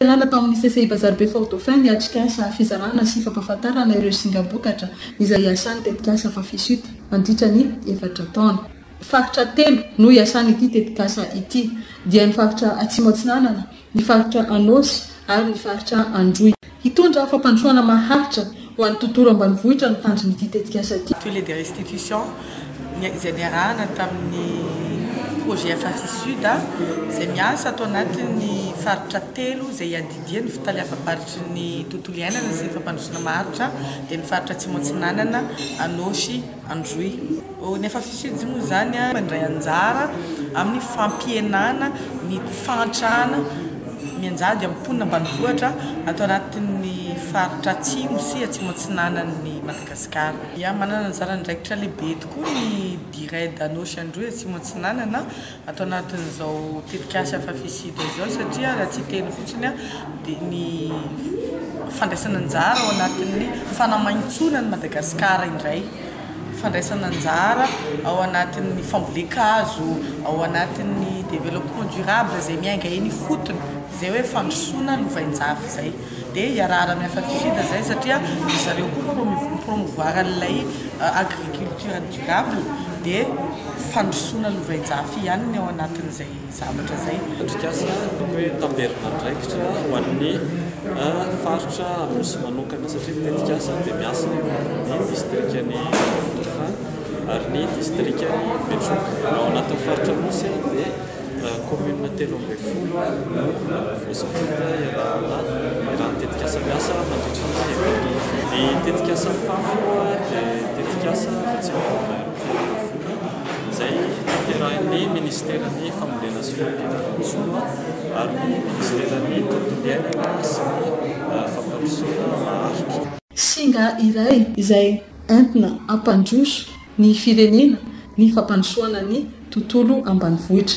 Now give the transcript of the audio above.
Niala tao amin'ny CCI Bazaribe Fort Dauphin ny atrikasa fizarana sy fampahafantarana ireo singam-bokatra izay iasan'ny tetikasa Fafisut mandritra ny efatra taona. Faritra telo no iasan'ity tetikasa ity dia ny faritra Atsimo Atsinanana, ny faritra Anôsy ary ny faritra Androy. Hitondra fampandrosoana maharitra Ho an'ny tontolo ambanivohitra no tanjon'ity tetikasa ity. Tous les de restitution izay niarahana tamin'ny projet FRC Sud izay miasa ato anatin'ny faritra telo izay iadidian'ny fitaleavam-baritry ny tontolo iainana sy ny fampandrosoana maharitra dia ny faritra Atsimo Atsinanana, Anôsy, Androy. Ô, ny Afafisojo moa izany mandray anjara amin'ny fampihenana ny fahantrana mianjady amin'ny mponina ambanivohitra ato anatin'ny faritra Atsimo sy Atsimo Atsinanan'i Madagasikara. Manana anjara andraikitra lehibe tokoa ny Dired Anôsy Androy Atsimo Atsinanana ato anatin'izao tetikasa Afafisida izao satria raha tsy hiteny fotsiny aho dia ny fandraisana anjara ao anatin'ny fanamaintsoana an'i Madagasikara indray, fandraisana anjara ao anatin'ny fambolen-kazo, ao anatin'ny développement durable izay miainga eny ifotony, izay hoe fandrosoana lovainjafy izay. dia hiarahana amin'ny Afatsisida izay satria ry zareo koa no mi-promouvoir an'ilay agriculture durable dia fandrosoana lovain-jafy ihany ny ao anatin'izay zavatra izay. Atrikasa ataoko hoe tamberim-andraikitra ho an'ny faritra Anosy manokana satria ny tetikasa dia miasa amin'ny distrikan'i Andoha Fafana ary ny distrikan'i Betroka. Ao anatin'ny faritra Anosy dia Kaominina telo ambin'ny folo no voasambotra ialahana raha ny tetikasa miasa mandritra ny ekonomia. Ny tetikasa Fafo dia tetikasa izay tsy mivoaka eo amin'ny fiainana ankohonana izay tanterahin'ny minisiteran'ny Fambolena sy Fandriana ny Nosy-Oa ary ny minisiteran'ny Tontolo iainana sy ny Fampandrosoana Maharitra. Singa iray izay entina hampandroso ny firenena ny fampandrosoana ny tontolo ambanivohitra.